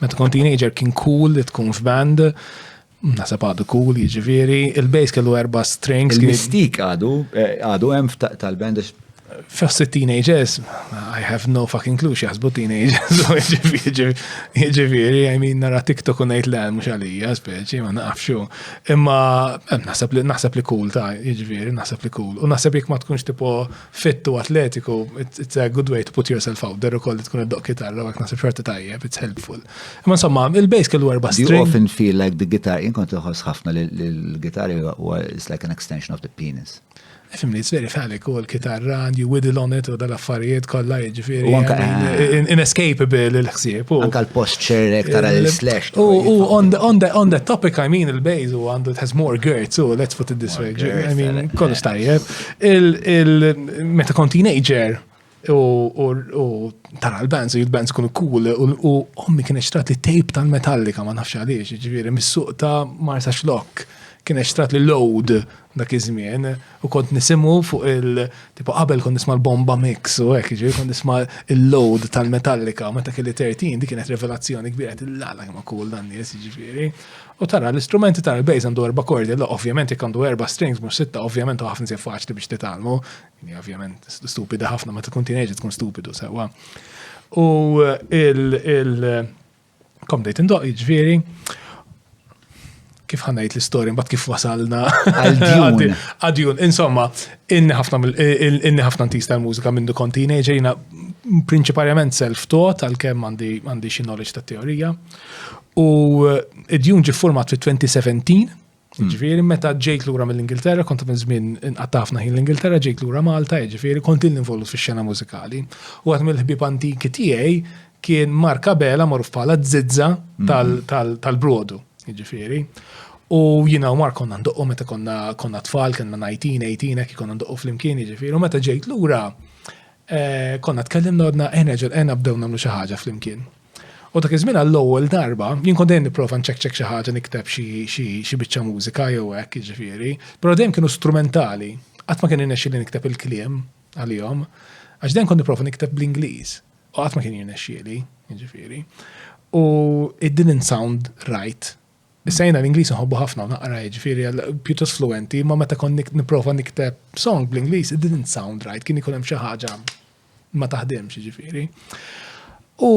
Meta kont teenager kien cool li tkun f'band, Nasab għadu cool, jiġifieri, il-bass kellu erba' strings. Il-mistik għadu, eh, għadu hemm tal-band Fost teenagers, I have no fucking clue x'jaħsbu teenagers, jiġifieri, I mean, nara TikTok u ngħid le mhux għalija, speċi, ma nafxu. Imma eh, naħseb li naħseb li cool ta' jiġifieri, naħseb li cool. U naħseb jekk ma tkunx tipo fit u atletiku, it's a good way to put yourself out there u koll tkun id-doq kitarra għak nasib xorta tajjeb, it's helpful. Ma insomma, il-bass kellu erba string. You often feel like the guitar, jien kont uħos ħafna li l-gitar is like an extension of the penis. Fimni, it's very phallic u l-kitarra and you whittle on it u dal-affarijiet kollha jiġifieri. U anka inescapable eh, il-ħsieb. Anka l-posture ek tara l-slash. U on the topic, I mean, il-bass u għandu it has more girts, so let's put it this way. I mean, kollox tajjeb. Meta kont teenager u tara l-bands u jil-bands kunu cool u ommi kien eċtrat li tape tal-Metallica ma nafx għaliex, ġifieri mis-suq ta' Marsa Xlokk kien eċtrat li load dak iż-żmien u kont nisimgħu fuq il- tipo qabel kont nisma' l-Bomba Mix u hekk, ġifieri kont nisma' l-load tal-Metallica meta kelli 13 dik kienet revelazzjoni kbira, għedt lala kemm hu cool dan nies, ġifieri. U tara l-istrumenti tara l-bass għandu erba' kordi, la ovvjament jekk għandu erba' strings mhux sitta, ovvjament ħafna se faċli biex titgħallmu. Hija ovvjament stupida ħafna ma tkun teenager tkun stupidu sewwa. U il kom dejt indoq jiġifieri kif ħanajt l-istorja mbagħad kif wasalna għadjun. Insomma, inni ħafna inni ħafna ntista l-mużika minn dukon teenager jiena prinċiparjament self-taught għalkemm għandi xi knowledge ta' teorija. U id-djun ġi format fi 2017, hmm. ġifiri meta ġejt lura mill-Ingilterra, kont minn żmien inqattafna ħin l-Ingilterra, ġejt lura Malta, ġifiri kont il-involut fi xena mużikali. U għat mill-ħbib antiki tiegħi kien Marka Bela maruf bħala zizza hmm. tal-brodu, ġifiri. U jina u mar konna ndoqqu meta konna tfal, konna 19, 18, ekki konna ndoqqu fl-imkien, ġifiri. U meta ġejt lura, eh, konna tkellimna għadna eħna ġel eħna bdew namlu xaħġa fl-imkien. U dak iż-żmien għall-ewwel darba, jien kont dejjem nipprova nċekċek xi ħaġa nikteb xi biċċa mużika jew hekk jiġifieri, però dejjem kienu strumentali. Qatt ma kien irnexxi li nikteb il-kliem għalihom, għax dejjem kont nipprova nikteb bl-Ingliż. U qatt ma kien jirnexxieli, jiġifieri. U it didn't sound right. Sejna l-Ingliż nħobbu ħafna u naqra jiġifieri pjuttost fluenti, ma meta kont nipprova nikteb song bl-Ingliż, it didn't sound right, kien ikun hemm xi ħaġa ma taħdimx ġifiri. U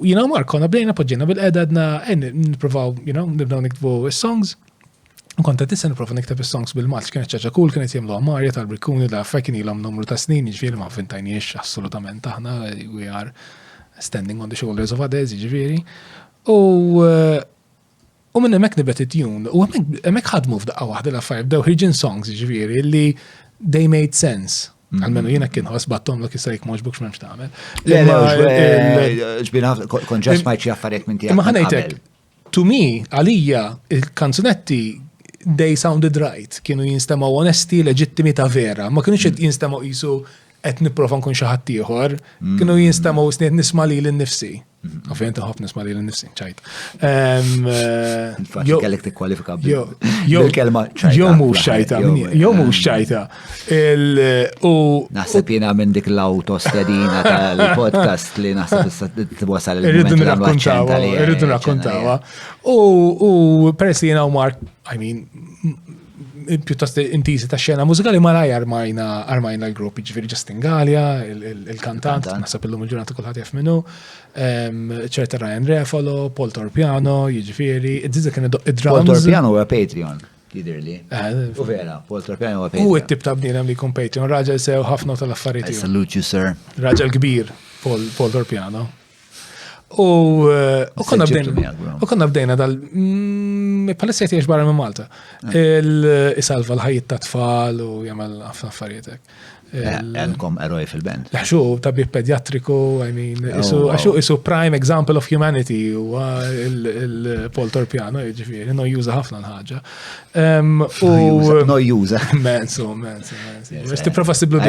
jina Mark konna bdejna poġġina bil-qeda għedna niprofaw, you know, nibdaw niktbu songs. Konta tista niprofa nikteb is-songs bil-maċ, kienet ċaċa kull kienet jemlu għamarja tal-brikkuni da fekin ilhom numru ta' snin, ġifiri ma fintajniex assolutament aħna, we are standing on the shoulders of others, ġifiri. U U minn hemmhekk nibet it-tjun, u hemmhekk ħadmu f'daqqa waħda l-affarijiet bdew ħirġin songs jiġifieri li they made sense. Mhm. Għalmenu jiena kien ħoss battom l jista' jek moġbuk x'memx tagħmel. Ġbina kon ġas ma jċi affarijiet minn tiegħek. Imma ħanejtek, to me, għalija, il-kanzunetti they sounded right, kienu jinstemaw onesti, leġittimi ta' vera, ma kienux mhm. jinstemaw jisu qed nipprova nkun xi ħadd ieħor, kienu jinstemgħu sniet nisma' lili nnifsi. Ovvjament nħobb nisma' lili nnifsi, ċajt. Faċli kellek tikkwalifika bil-kelma ċajta. Jew mhux ċajta, jew mhux ċajta. Naħseb jiena minn dik l-autostedina tal-podcast li naħseb issa twasal il-moment li nrakkontawa. Irridu nrakkontawa. U peress li jiena u Mark, I mean, pjuttost intiżi ta' xena mużikali ma raj armajna armajna l-grupp, ġifiri Justin Gallia, il-kantant, nasab il-lum il-ġurnata kullħat jaf minnu, ċerta Ryan Refalo, Paul Torpiano, ġifiri, id-dizza kien id-drums. Paul Torpiano u Patreon jidirli. Eh, u vera, Paul Torpiano u Patreon. U it-tip ta' bnidem li kun Patreon, raġel sew ħafna tal-affarijiet. Salute you, sir. Raġel kbir, Paul Torpiano. U konna bdejna, u konna bdejna dal, mm, palissa jtiex barra minn Malta. Ah. Il-isalva l-ħajt ta' tfal u jamal għafna affarietek. Eh, għandkom eroj fil-band. Għaxu, tabib pediatriku, I mean, oh, għaxu, isu prime example of humanity u il-Paul Torpiano, ġifiri, no juża ħafna l-ħagġa. Nojjuża. Mensu, mensu, mensu. Tiprofa siblu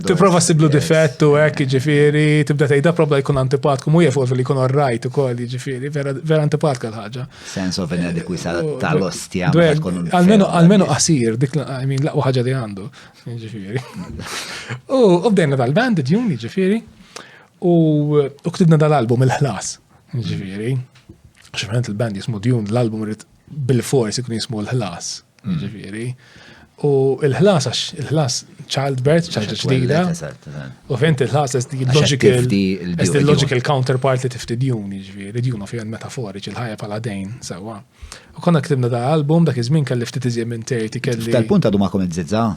Tiprofa siblu difett u hekk ġifieri, tibda tgħidha probla jkun antipatku, mu jefol li jkun orrajt ukoll ġifieri, vera antipatka l-ħaġa. Sense of inadequacy tal-ostja. Almenu qasir, dik min laqwa ħaġa li għandu. Ġifieri. U bdejna dal-band, ġuni ġifieri. U ktibna dal-album il-ħlas. Ġifieri. Ximħent il-band jismu Dune, l-album rrit bil-fors ikun jismu l-ħlas, mm. ġifiri. U il-ħlas, għax il-ħlas childbirth, ċaġa ġdida. U fint il-ħlas, est il-logical counterpart li tifti djun, ġifiri, djun u fijan metaforiċ, il-ħajja pala dejn, sewa. U konna ktibna da album, dak iż-żmien kelli ftit iżjem minn terti kelli. Tal-punt għadu ma' komment zizza?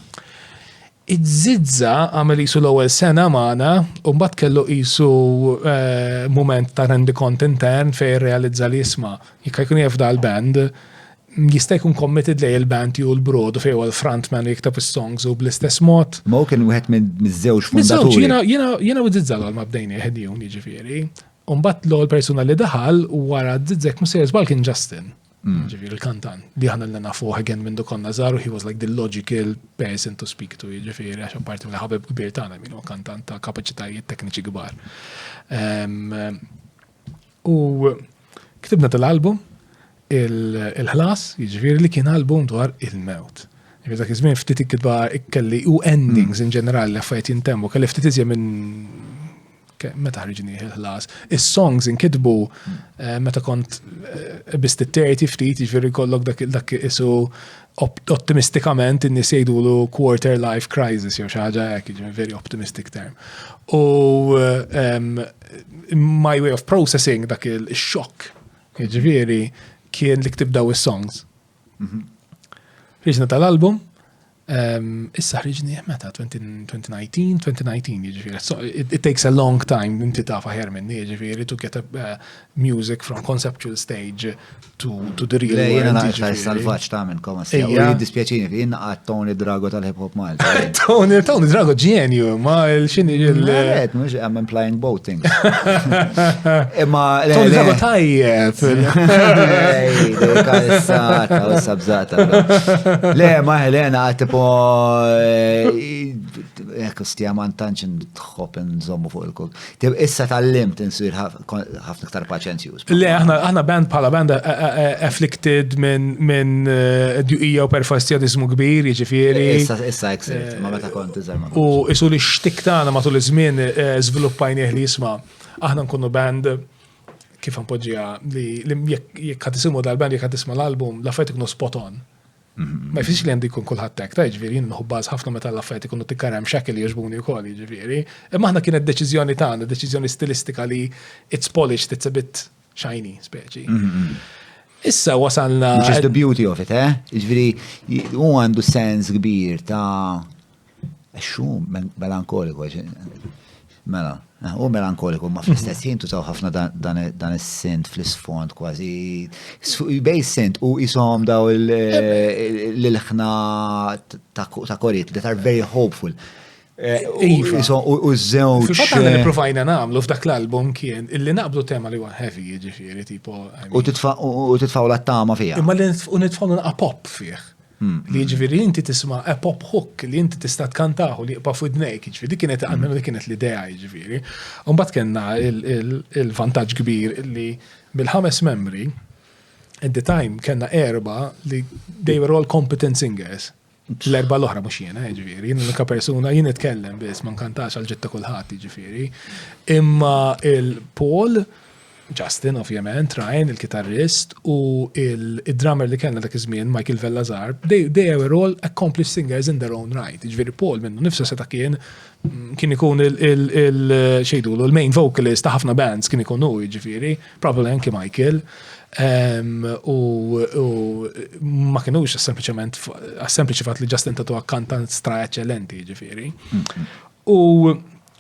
Iż-żizza għamel jisu l-ewwel sena magħna u mbagħad kellu jisu eh, moment ta' rendi kont intern fejn realizza li jisma' Jekk jkun jaf dal band jista' jkun committed lej il-band ju l-brodu fejn huwa l-frontman li jikteb is-songs u bl-istess mod. Ma hu kien wieħed miż-żewġ fundaturi. Jiena jiena jiena u Zizzal ma bdejni ħedjun jiġifieri. Umbat l-ewwel persuna li daħal wara Zizzek ma sejjer żball kien Justin. Mm. Ġifieri il-kantan li aħna l nafuh again minn konna żaru he was like the logical person to speak to jiġifieri għax apparti mill-ħabib kbir tagħna min huwa kantant ta' kapaċitajiet tekniċi kbar. Ehm, U ktibna tal-album il-ħlas, jiġifieri li kien album dwar il-mewt. Jiġifieri dak iż-żmien ftit ikkitba kelli u endings in ġenerali li affarijiet jintemmu, kelli ftit iżjed minn meta ħriġni il-ħlas. Is-songs inkitbu eh, meta kont eh, bist it-terti ftit, jiġifieri kollok dak isu Optimistikament in-nies jgħidulu quarter life crisis jew xi ħaġa hekk, jiġifieri very optimistic term. U um, my way of processing dak il-xokk, jiġifieri kien li ktibdaw is-songs. Mhm. Ħriġna tal-album, Ehm, issa ħriġni meta 2019, 2019 jiġifieri. It takes a long time inti taf aħjar minni jiġifieri to get a, eh, music from conceptual stage to, to the real world. Jena naqta salvaċ ta' minn koma s-sija. Jena dispjaċini fi, jena għad Tony Drago tal-hip hop mal. Tony, Tony Drago ġenju, ma l-xini ġil. Għed, mux għam implying both things. Imma. Tony Drago tajjeb. Kassata, u sabzata. Le, ma Helena għad tipo. Ekku eh, stija man tanċin tħob nżommu fuq il-kuk. Tib issa tal-limt insir ħafna iktar paċenzjuż. Le, aħna band bħala band eh, eh, eh, afflicted minn djuqija u perfastjadizmu kbir, jiġifieri. Issa issa eksirt, ma meta kont iżgħar U isu li xtik tagħna matul iż-żmien żviluppajnieh li jisma' aħna nkunu band kif npoġġiha li jekk ħad isimgħu dal-band jekk ħad isma' l-album, l-affarijiet ikunu spot on. Ma jfisx li għandu jkun kulħadd hekk, ta' jiġifieri nħubbaz ħafna meta l-affarijiet ikunu tikkarem xekil jogħġbuni wkoll jiġifieri. Imma aħna kienet deċiżjoni tagħna, deċiżjoni stilistika li it's polished, it's a bit shiny speċi. Issa wasalna. Which is the beauty of it, eh? Jiġifieri hu għandu sens kbir ta' Xu melankoliku, mela, u melankoliku, ma fl-istess ħin tużaw ħafna dan is-sint fl-isfond kważi. Bej sint u jisom daw l-ħna ta' korit, that are very hopeful. Eh, iva. U zewċ. Fatta li eh, provajna namlu f'dak l-album kien illi naqblu tema li għan heavy ġifiri, tipo. U titfaw la tama fija. Imma li nitfaw naqqa pop fih. Li jiġifieri li inti tisma' a pop hook li inti tista' tkantahu li jibqa' f'widnejk, jiġifieri dik kienet almenu dik kienet l-idea jiġifieri. U mbagħad kellna l-vantaġġ kbir li mill-ħames membri, at the time kellna erba' li they were all competent singers. L-erba' l-oħra mhux jiena jiġifieri, jien l-unika persuna jien nitkellem biss ma nkantax għal ġid ta' kulħadd jiġifieri. Imma il-Paul Justin, ovvjament, Ryan, il-kitarrist, u id-drummer li kellna dak iż-żmien, Michael Vellazar, they, they were all accomplished singers in their own right. Ġifieri Paul minnu nifsu seta' kien kien ikun il-xejdulu, il-main vocalist ta' ħafna bands kien ikun hu, ġifieri, probably anki Michael. Ehm, u ma kienux sempliċement għas-sempliċi fatt li Justin tatu akkantant stra eċċellenti, ġifieri. U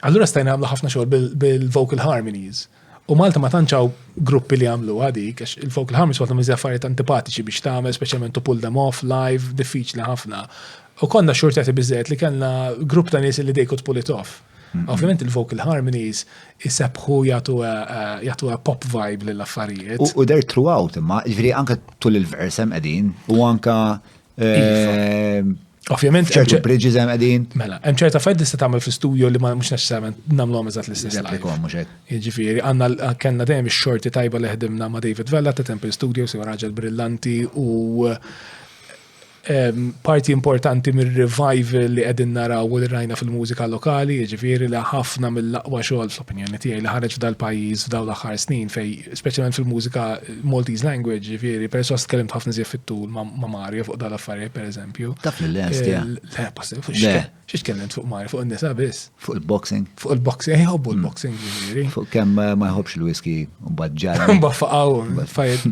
Allura stajna għamlu ħafna xogħol bil-vocal harmonies. U Malta ma tanċaw gruppi li għamlu għadik, għax il-vocal harmonies għatam iżja affarijiet antipatiċi biex tagħmel, speċjalment to pull them off, live, diffiċli ħafna. U konna xurtjati bizzet li kellna grupp ta' nies li they could pull it off. Mm-hmm. Ovvijament il-vocal harmonies jisebħu jgħatu eh, eh, pop vibe l-affarijiet. U der throughout, imma ġviri anka tul il-versem edin, u anka Ehm, Ovvjament. ċertu bridges hemm qegħdin. Mela, hemm ċerta fed tista' tagħmel fl-istudio li ma mhux neċessarjament nagħmluhom eżatt l-istess. Replikom mhux hekk. Jiġifieri għandna kellna dejjem ix-xorti tajba li ħdimna ma' David Vella ta' Temple Studios jew raġel brillanti u ehm, parti importanti mir-revival li qegħdin naraw u li rajna fil-mużika lokali, jiġifieri li ħafna mill-aqwa xogħol fl-opinjoni tiegħi li ħareġ f'dal-pajjiż f'dawn l-aħħar snin fej speċjalment fil-mużika Maltese language, ġifiri, per sos tkellimt ħafna zjef fit-tul ma' Mario fuq dal-affarijiet, per eżempju. Taf li l-lest, ja. Le, possib, fuq xiex tkellimt fuq Mario, fuq il-nisa biss. Fuq il-boxing. Fuq il-boxing, eh, jħobbu il-boxing, mm. ġifiri. Fuq kem eh, ma jħobbx il-whisky, un badġar. Un baffaqaw, fajt.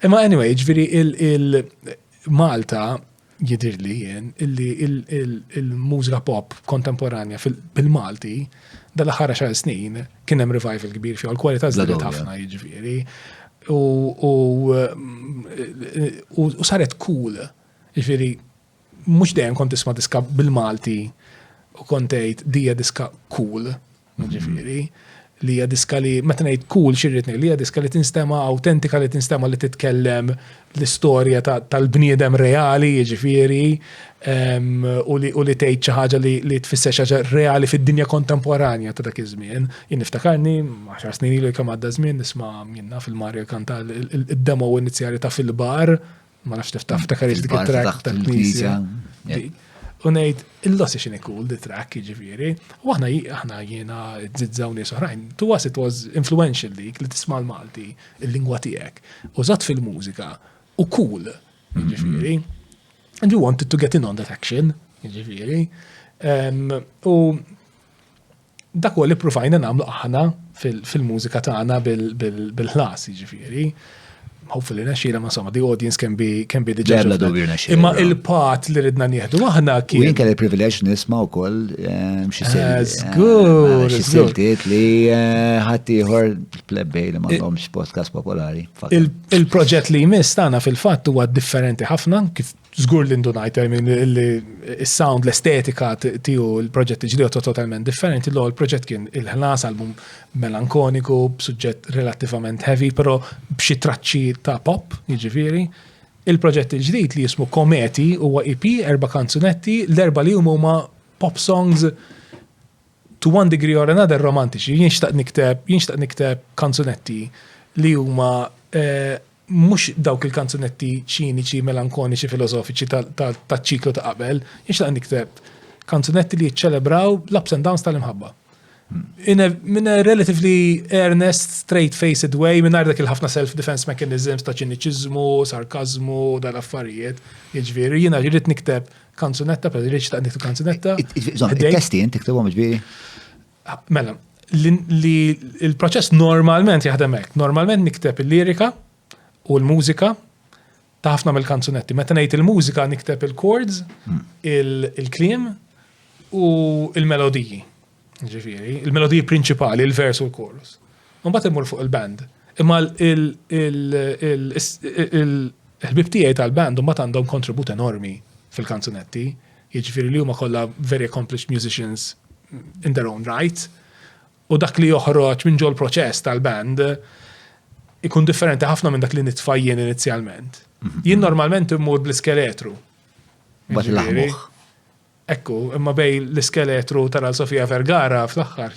Imma anyway, ġifiri, il-Malta, jidhirli jien illi il-mużika pop kontemporanja bil-Malti dal-aħħar xar snin kien hemm revival kbir fiha l-kwalità żdiedet ħafna jiġifieri. U saret cool. Jiġifieri mhux dejjem kont tisma' diska bil-Malti u kont tgħid dija diska cool. Jiġifieri, li hija diska li, meta ngħid cool xi rrid ngħid, li hija diska li tinstema' awtentika li tinstema' li titkellem l-istorja tal-bniedem reali, jiġifieri, u li tgħid xi ħaġa li tfisser xi ħaġa reali fid-dinja kontemporanja ta' dak iż-żmien. Jien niftakarni, għaxar snin ilu kemm għadda żmien, nisma' min naf il-Mario jkanta d-demo inizjali ta' Fil-Bar, ma nafx tiftaħ ftakar dik it-track tal-knisja. U ngħid il-lossi xini cool di track jiġifieri. U aħna aħna jiena żidżaw nies oħrajn. To us it was influential dik li tisma' l-Malti, il-lingwa tiegħek. Użat fil-mużika u cool mm-hmm. jiġifieri. And you wanted to get in on that action jiġifieri. U Dak huwa li ppruvajna nagħmlu aħna fil-mużika tagħna bil-ħlas, jiġifieri. Hopefully nexxina, ma somma, the audience can be can be the judge. Bla dubju nexxina. Imma il-pat li ridna nieħdu aħna kien. Jien kelli privileġġ nisma' wkoll ehm, xi eh, Żgur. Eh, xi siltiet li eh, ħadd ieħor plebbej li m'għandhomx podcast popolari. Il-proġett li jmiss tagħna fil-fatt huwa differenti ħafna kif Zgur li ndunajt, I mean, li il-sound, l-estetika tiju il-proġett ġdiju totalment differenti, l il-proġett kien il-ħlas, album melankoniku, b'suġġett relativament heavy, pero b'xi traċċi ta' pop, jiġifieri. Il-proġett il-ġdid li jismu Kometi huwa EP, erba' kanzunetti, l-erba' li huma pop songs to one degree or another romantiċi, jinxtaq nikteb, jinxtaq nikteb kanzunetti li huma eh, mhux dawk il-kanzunetti ċiniċi, melankoniċi, filosofiċi taċ-ċiklu ta' qabel, jinxtaq nikteb kanzunetti li jiċċelebraw l-ups and downs tal-imħabba. In a, in a relatively earnest, straight-faced way, minn dak il-ħafna self-defense mechanisms ta' ċiniċizmu, sarkazmu, dal-affarijiet. Iġviri, jina ġirrit nikteb kanzunetta, per ġirrit ta' nikteb kanzunetta. Il-testi jint tiktibom iġviri? Ah, mela, li il-proċess normalment jaħdem hekk. Normalment nikteb il-lirika u l-mużika ta' ħafna mill-kanzunetti. Meta ngħid il-mużika nikteb il-chords, hmm. il-kliem u il-melodiji. Ġifieri, il-melodiji prinċipali, il-vers u l-chorus. Mbagħad immur fuq il-band. Imma il-ħbib tiegħi tal-band mbagħad għandhom kontribut enormi fil-kanzunetti jiġifieri li huma kollha very accomplished musicians in their own right, u dak li joħroġ minn ġol proċess tal-band ikun differenti ħafna minn dak li nitfajjen inizjalment. Mhm. Jien normalment immur bl-iskeletru. Bat l-aħmuħ. Ekku, imma bej l-iskeletru tal-Sofia Vergara fl-axħar.